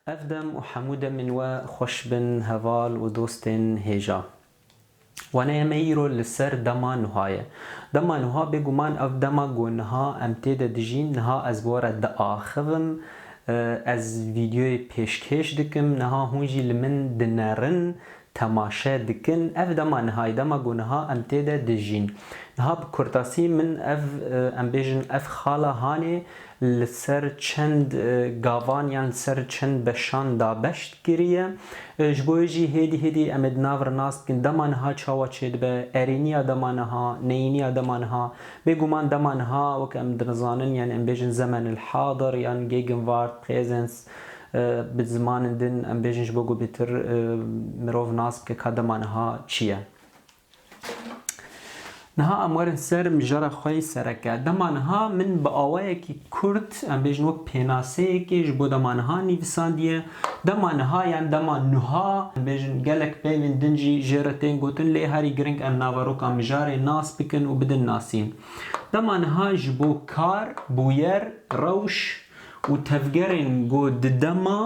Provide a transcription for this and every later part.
Ev dem û hemû demên we xweş bin heval û dostên hêja. Waneye me îro li ser dema nuha ye. Dema nuha bêguman ev dema ku niha em tê de dijîn, niha ez bi we re diaxivim, ez vîdyoyê pêşkêş dikim, niha hûn jî li min dinerin, temaşe dikin ev dema niha ye dema ku niha em tê de dijîn niha bi kurtasî min ev em bêjin ev xala hanê li ser çend gavan yan li ser çend beşan dabeş kiriye ji bo wê jî hêdî hêdî em ê di nav re nas bikin dema niha çawa çê dibe erêniya dema niha neyîniya dema niha bê guman dema niha wek em dinizanin yan em bêjin zemenil hadir yan gegenwart presence Bi zimanên din em bêjin ji bo ku bêtir mirov nas bike ka dema niha çi ye. Niha em werin ser mijara xwe yê sereke. Dema niha min bi awayekî kurt em bêjin wek pênaseyekê ji bo dema niha nivîsandiye. Dema niha yan dema nuha em bêjin gelek peyvên din jî jê re tên gotin lê herî giring em naveroka mijarê nas bikin û bidin nasîn. Dema niha ji bo kar, bûyer, rewş, Û tevgerên ku di dema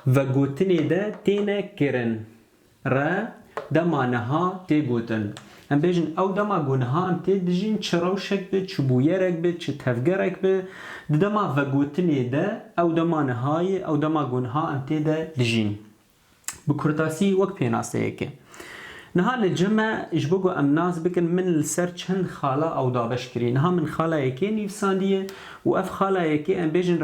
vegotinê de têne kirin re dema niha tê gotin. Em bêjin ew dema ku niha em tê dijîn çi rewşek bi, çi bûyerek bi, çi tevgerek bi, di dema vegotinê de ew dema niha ye, ew dema ku niha em tê de dijîn. Bi kurtasî wek pênaseyeke. Niha li cem e, ji bo ku em nas bikin min li ser çend xala ew dabeş kirî. Niha min xala yekê nivîsandiye û ev xala yekê em bêjin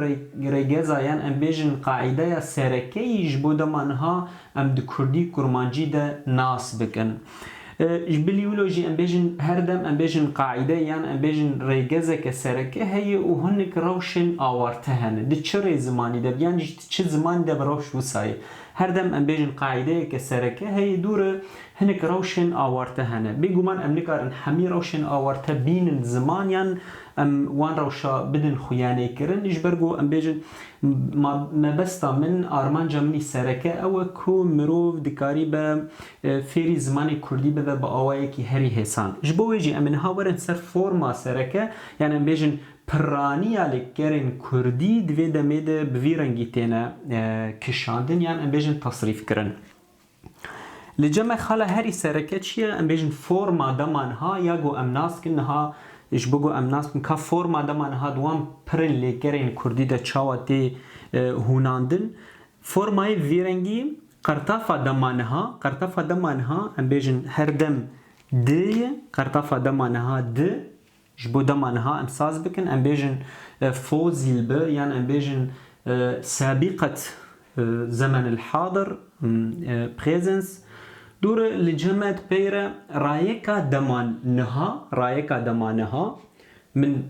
rêgeza yan em bêjin qaîdeya serekeyî ji bo dema niha em di kurdî kurmancî de nas bikin. Ji bilî wilo jî em bêjin her dem em bêjin qaîde yan em bêjin rêgezeke sereke heye û hinek rewşên awarte hene. Di çi rê zimanî de bi yan jî di çi zimanî de bi rewş wisa ye. Her dem em bêjin qaîdeyeke sereke heye dû re hinek rewşên awarte hene. Bêguman em nikarin hemî rewşên awarte bînin ziman yan em wan rewşa bidin xuyanêkirin. Ji ber ku em bêjin mabesta min armanca minî sereke ew e ku mirov dikarî be fêrî zimanê kurdî bibe bi awayekî herî hêsan. Ji bo wê jî em ê niha werin ser forma sereke yan em bêjin pirraniya li gerên kurdî di vê demê de bi vî rengî têne kişandin yan em bêjin tasrîfkirin. Li cem e xala herî sereke çi ye? Em bêjin forma dema niha ya ku em nas bikin niha ji bo ku em nas bikin ka forma dema niha di wan pirên lêgerên kurdî de çawa tê hûnandin Formayê vî rengî qertafa dema niha, qertafa dema niha, em bêjin her dem di ye, qertafa dema niha di, ji bo dema niha em saz bikin em bêjin fozîl bi yan em bêjin sabîqet zemen el hadir, presens. Dûre li cemed peyre rayeka dema niha, rayeka dema niha, min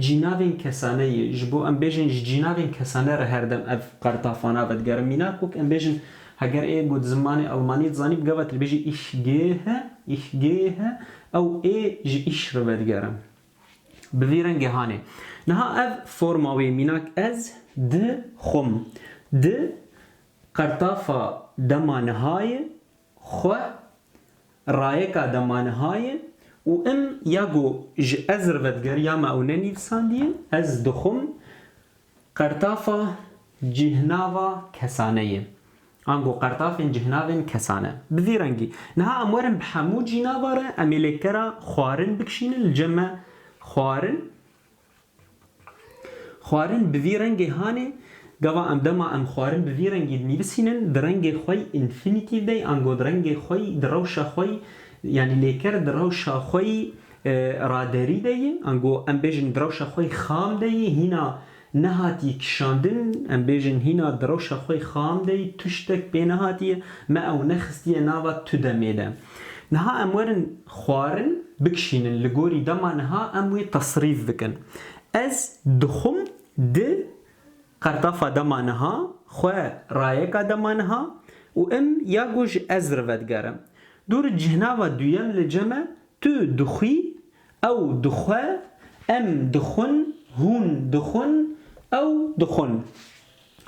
Cînavên kesane yê, ji bo em bêjin ji cînavên kesane re her dem ev qertafana vedigerim. Mînak wek em bêjin heger ê got zimanê Almanî dizanî bi gava te dibêjî ich gehe, ich gehe, ew ê ji ich re vedigerim. Bi vî rengê hanê. Niha ev forma wê mînak ez di xwim. Di qertafa dema nihayê xwe rayeka demanihaye û im ya ku ji ez re vediger ya me ew nenivîsandiye, ez dixwim qertafa cîhnava kesane ye. Ango qertafên cîhnavên kesane. Bi vî rengî. Niha em werin bi hemû cînava re em ê lêkera xwarin bikişînin li cem me xwarin Xwarin bi vî rengê hanê, gava em dema em xwarin bi vî rengî dinivîsînin, di rengê xwe yî, infinitive, de yî ango di rengê xwe yî, di rewşa xwe yî, yanî lêker di rewşa xwe yî raderî de yî, ango em bêjin di rewşa xwe yî xam de yî, hîna nehatî kişandin, em bêjin hîna di rewşa xwe yî xam de yî, tuştek pê nehatiye, me ew nexistiye nava tu demê de. Niha em werin. xwarin bikişînin li gorî dema niha em wî tesrîf bikin. Ez dixwim di qertafa dema niha xwe rayeka dema niha û im ya gu ji ez rivedgerim. Dûr cihnava duyem li cem e, tu dixwî, ew dixwe, em dixwin, hûn dixwin, ew dixwin.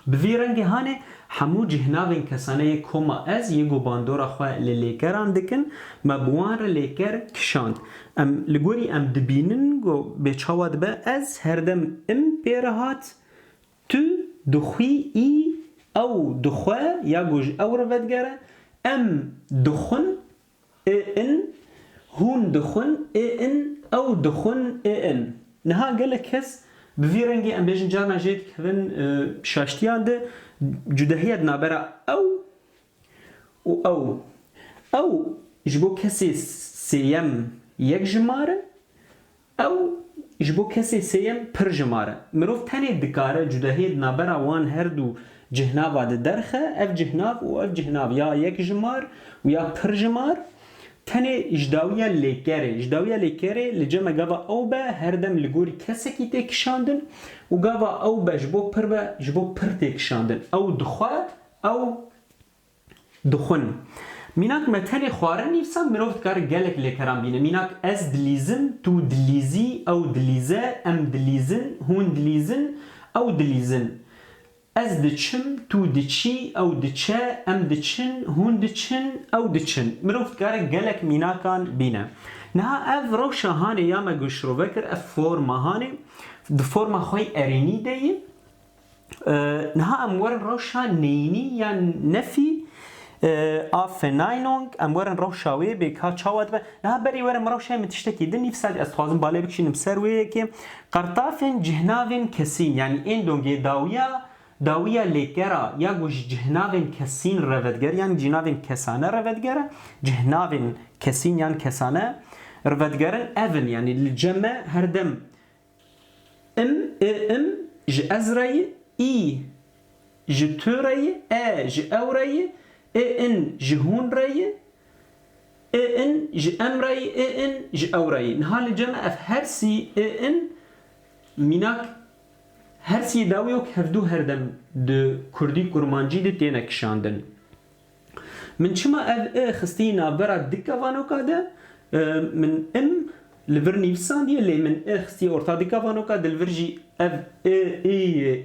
Bi vî rengê hanê hemû cîhnavên kesane yê koma ez yê ku bandora xwe li lêkeran dikin, me bi wan re lêker kişand. Em li gorî em dibînin ku bê çawa dibe ez herdem im pê re hat, tu dixwî î, ew dixwe ya ku ji ew re vedigere, em dixwin, ê in, hûn dixwin ê in, ew dixwin ê in. Niha gelek kes bi vî rengê em bêjin carna jê dikevin şaştiyan de cudehiya di navbera ew û ew. Ew ji bo kesê sêyem yek jimar e. Ew ji bo kesê sêyem pir ji mar e. Mirov tenê dikare cudehiyê di navbera wan her du cihnava de derxe, ev cihnav û ev cihnav ya yek ji mar û ya pir ji mar tenê ji dawiya lêkerê. Ji dawiya lêkerê li cem e gava ew be her dem li gorî kesekî tê kişandin û gava ew be ji bo pir be ji bo pir tê kişandin. Ew dixwe, ew Dixwin. Mînak me tenê xwarin nî disa mirov dikare gelek lêkeran bîne. Mînak ez dilîzim, tu dilîzî, ew dilîze, em dilîzin, hûn dilîzin, ew dilîzin. Ez diçim, tu diçî, ew diçe, em diçin, hûn diçin, ew diçin. Mirov dikare gelek mînakan bîne. Niha ev rewşa hanê ya me ku şirove kir ev forma hanê di forma xwe yê erênî de ye. Niha em werin rewşa neyînî yan nefî a Fenaynong, em werin rewşa wê bê ka çawa dibe. Niha berî were min rewşayê min tiştekî din, nîv sadî ez dixwazim balê bikişînim ser wê yekê. Qertafên cihnavên kesîn yanî ên dongê dawiya dawiya lêkera ya ku ji cihnavên kesîn re vediger yan cînavên kesane re vedigere, cihnavên kesîn yan kesane re vedigerin ev in, yanî li cem me her dem Im, i, im, ji ez re ye, î, ji tu re ye, e, ji ew re ye, i, in, ji hûn re ye, i, in, ji em re ye, i, in, ji ew re ye. Niha li cem e ev hersî, i, in, mînak hersî ye dawiyok hevdu herdem di kurdî-kurmancî de têne kişandin. Min çima ev i xistiye navbera dika vanoka de, min im li vir nivîsandiye lê min i xistiye orta dika vanoka de li vir jî ev i, i,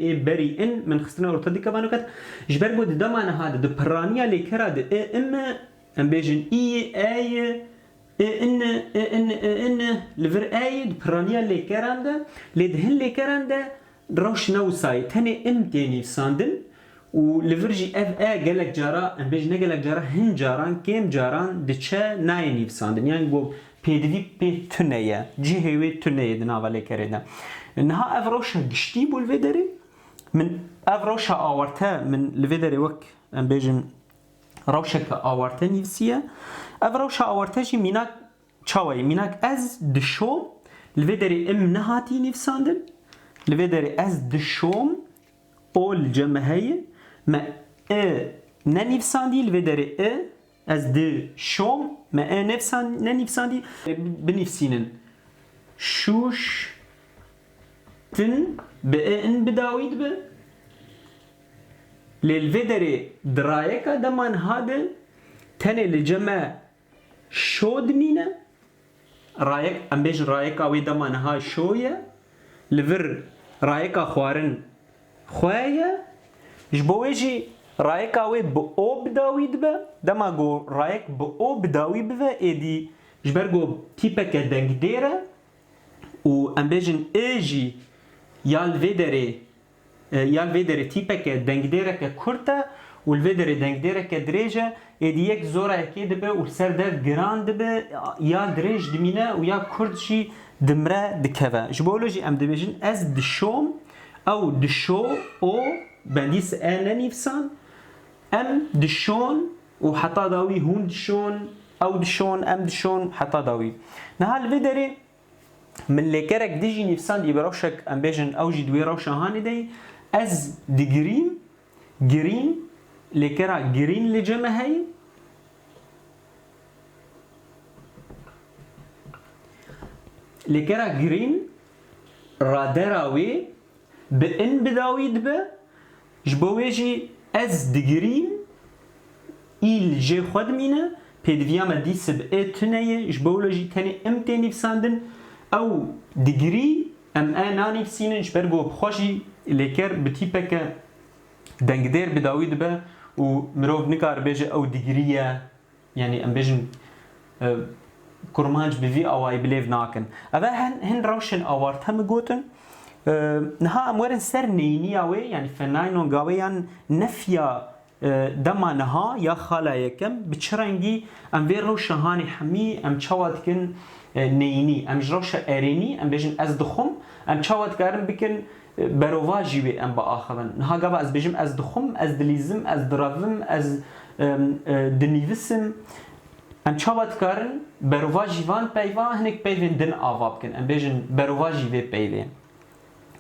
ê berî in min xistine orta dika vanoka de. Ji ber ku di dema niha de di pirraniya lêkera de i, im i, em bêjin î i, e i, i, in i, i, in i, i, in i li vir e i di pirraniya lêkeran de lê di hin lêkeran de Rewşnewsayî tenê in tê nivîsandin û li vir jî ev e gelek cara, em bêjin ne gelek cara, hin caran, kêm caran diçe nayê nivîsandin. Yan ku pêdivî pê tune ye, cihê wê tune ye di nava lêkerê de. Niha ev rewşa giştî bû li vê derê. Min ev rewşa awarte min li vê derê wek em bêjin rewşeke awarte nivîsiye. Ev rewşa awarte jî mînak Çawa ye? Mînak ez dişom, li vê derê im nehatiye nivîsandin, li vê derê ez dişom, ol ce me heye, me i ne nivîsandiye, li vê derê i, ez di şom, me e ne nivîsandiye. Binivîsînin, şûş tin bi i in bi dawî dibe, lê li vê derê dirayeka dema niha de tenê li ce me Şo dimîne, rayek, em bêjin rayeka wê dema niha şo ye, li vir rayeka xwarin xwe ye, ji bo wê jî rayeka wê bi o bi dawî dibe, dema ku rayek bi o bi dawî bibe êdî ji ber ku tîpeke dengdêr e û em bêjin i jî ya li vê derê, Ya li vê derê tîpeke dengdêreke kurt e û li vê derê dengdêreke dirêj e, êdî yek zora yekê dibe û li ser dev giran dibe, ya dirêj dimîne û ya kurt jî dimre dikeve. Ji bo wilo jî em dibêjin ez dişom, ew dişo, o bendî si e nenivîsan, em dişon û heta dawî hûn dişon, ew dişon, em dişon û heta dawî. Niha li vê derê. Min lêkerek dijî nivîsandiye bi rewşek em bêjin ew jî di wê rewşa hanê de ye, Ez digirîm, girîn, lêkera girîn li cem e heye. Lêkera girîn radera wê bi in bidawî dibe. Ji bo wê jî ez digirîm î li jê xwe dimîne, pêdiviya me dî sib ê tune ye, ji bo wilo jî tenê im tê nivîsandin, ew digirî em ê nanivîsînin ji ber ku bi xwe jî lêker bi tîpeke dengdêr bi dawî dibe û mirov nikare bêje ew digirî ye. Yanî em bêjin kurmanc bi vî awayî bilêv nakin. Ev e hin rewşên awarte min gotin. Niha em werin ser neyniya wê yanî fenaynonga wê yan nefiya dema niha ya xala yekem bi çi rengî em vê rewşa hanê hemî em çawa dikin neynî. Em ji rewşa erênî em bêjin ez dixwim em çawa dikarin bikin Berovajî wê em biaxivin. Niha gava ez bêjim ez dixwim, ez dilîzim, ez direvim, ez dinîvisim. Em çawa dikarin berovajî van peyva hinek peyvên din ava bikin. Em bêjin berovajî vê peyvê.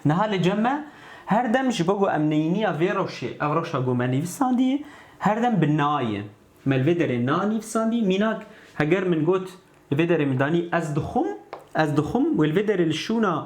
Niha li cem me her dem ji bo ku em neyîniya vê rewşê, ev rewşa ku me nîvisandî her dem bi na ye. Me li vê derê na nîvisandî. Mînak heger min got li vê derê min danî ez dixwim, ez dixwim wê li vê derê li şûna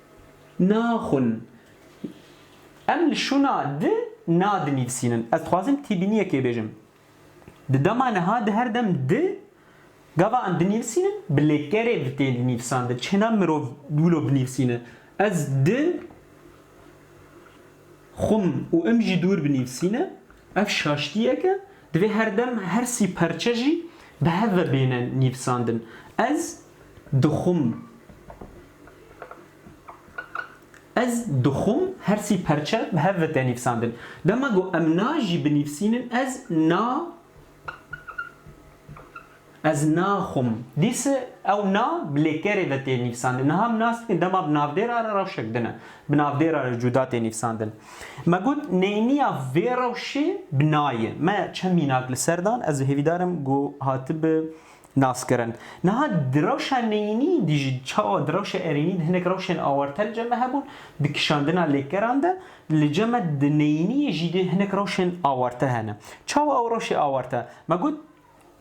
Naxwin. Em li şûna di na dinivîsînin. Ez dixwazim tîbîniyekê bêjim. Di dema niha di her dem di gava em dinivîsînin bi lêkerê bi tên nivîsandin. Çi hêna mirov wilo binivîsîne. Ez di. Xum û im jî dûr bi nivîsîne, ev şaştiyek e, divê her dem her sî perçe jî bi hev ve bêne nivîsandin. Ez dixum. Ez dixum her sî perçe bi hev ve te nivîsandin. Dema ku em na jî binivîsînin ez na Ez naxwim. Dîse ew na bi lêkerê ve tê nivîsandin. Niha min nas dikin dema bi navdêra re rewşek din e. Bi navdêra re cuda tê nivîsandin. Me got neyniya vê rewşê bi nayê. Me çend mînak li ser dan. Ez hêvîdar im ku hatibe. nas kirin. Niha di rewşa neyînî de jî çawa di rewşa erênî de hinek rewşên awarte li cem me hebûn, di kişandina lêkeran de li cem me di neyîniyê jî de hinek rewşên awarte hene. Çawa ew rewşê awarte? Me got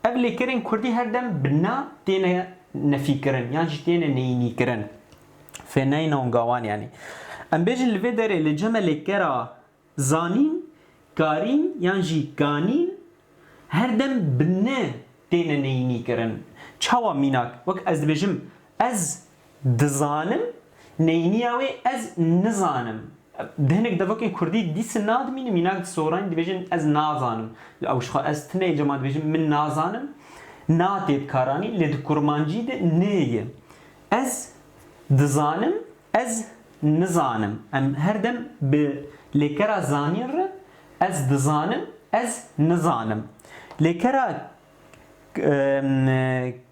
ev lêkerên kurdî her dem bi na têne nefîkirin yan jî têne neyînîkirin. Fêneyna û gawan yanî. Em bêjin li vê derê li cem me lêkera. Zanîn, karîn yan jî ganîn her dem bi ne têne neyînîkirin. Çawa mînak? Wek ez dibêjim ez dizanim neyîniya wê ez nizanim. Di hinek devokên kurdî dîsin nadimînin mînak di soranî dibêjin ez nazanim. Li ew jixwe ez tune yê cema dibêjim min nazanim na tê dikaranî lê di kurmancî de nê ye. Ez dizanim Ez nizanim, em her dem bi lêkera zanîn re ez dizanim, ez nizanim. Lêkera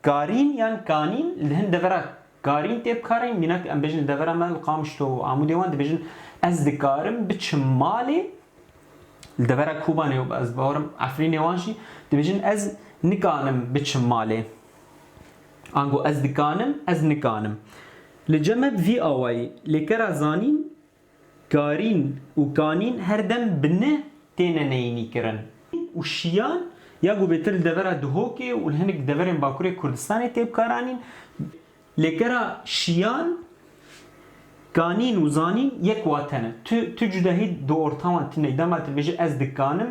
karîn yan kanîn li hin devera karîn tê bikarin, mînak em bêjin li devera me li Qamişlo û Amûdê wan dibêjin ez dikarim biçim malê, li devera Kobanê û ez bawerim Efrînê wan jî dibêjin ez nikanim biçim malê. Ango ez dikanim, ez nikanim. Li Cemed vî awayî lêkera zanîn, karîn û kanîn her dem bi ne têne neyînîkirin. Û şiyan ya ku bêtir li devera Duhokê û li hinek deverên Bakurê Kurdistanê tê bikaranîn. Lêkera şiyan, kanîn û zanîn yek wate ne. Tu tu cudahî di orta wan tune yî. Dema tu dibêjî ez dikanim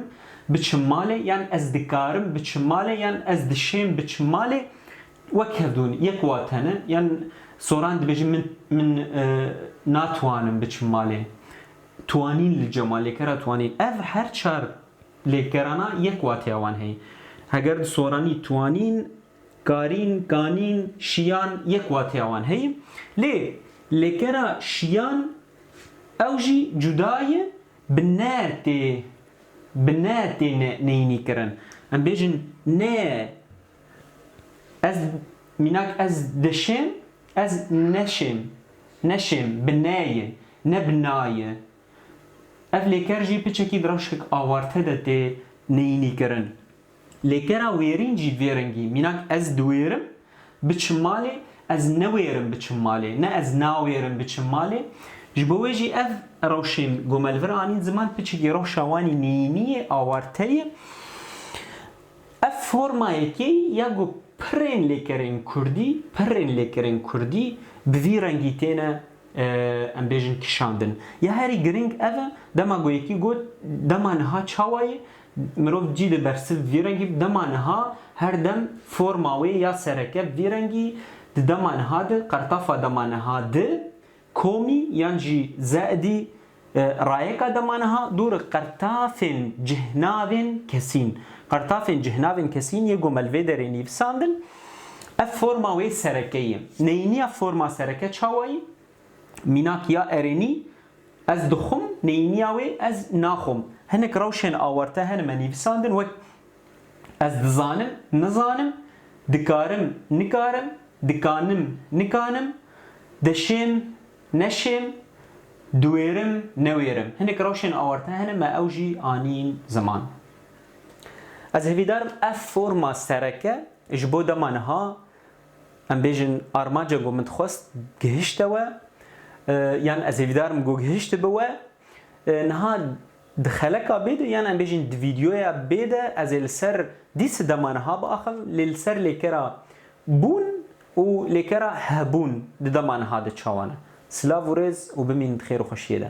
biçim malê yan ez dikarim biçim malê yan ez dişêm biçim malê Wek hevdûn yek wate ne yan Soran dibêje min min natwanim biçim malê. Twanîn li cema lêkera twanîn. Ev her çar lêkerana yek wateya wan heye. Heger di soranî twanîn, karîn, ganîn, şiyan yek wateya wan heye. Lê lêkera şiyan ew jî cuda ye bi ne tê bi ne tê ne neyînî kirin. Em bêjin ne Ez mînak ez dişêm ez neşêm neşêm bi ne ye ne bi na ye. Ev lêker jî piçekî bi reşkek awarte de tê neyînîkirin. Lêkera wêrîn jî vê rengî mînak ez diwêrim biçim malê ez newêrim biçim malê ne ez nawêrim biçim malê ji bo wê jî ev rewşên gomel vir anîn ziman piçekî rewşa wan î neyînî ye awarte ye. Ev forma yekê ya ku pirên lêkerên kurdî, pirrên lêkerên kurdî bi vî rengî têne em bêjin kişandin. Ya herî giring ev e, dema ku yekî got dema niha çawa ye, mirov cî di bersiv bi vî rengî, dema niha her dem forma wê ya sereke bi vî rengî, di dema niha di, qertafa dema niha di, Komî yan jî Ze'dî, rayeka dema niha dûr qirtafên cihnavên kesîn. Qirtafên cihnavên kesîn yê gomel vê derê nivîsandin. Ev forma wê sereke ye. Neyîniya forma sereke çawa ye? Mînak ya erênî, ez dixwim, neyîniya wê, ez naxwim. Hinek rewşên awarte hene me nivîsandin wek Ez dizanim, nizanim, dikarim, nikarim, dikanim, nikanim, deşêm, neşêm, diwêrim, newêrim. Hinek rewşên awarte hene me ew jî anîn ziman. Ez hevîdarim ev forma sereke ji bo dema niha em bêjin armanca ku min dixwest gihişte we yan ez hevîdarim ku gihiştibe we. Niha Di xeleka bê de yan em bêjin di vîdyoya bê de ez ê li ser dî sidema niha biaxivim lê li ser lêkera bûn û lêkera hebûn di dema niha de çawa ne. Silav û rêz û bimînin di xêr û xweşiyê de.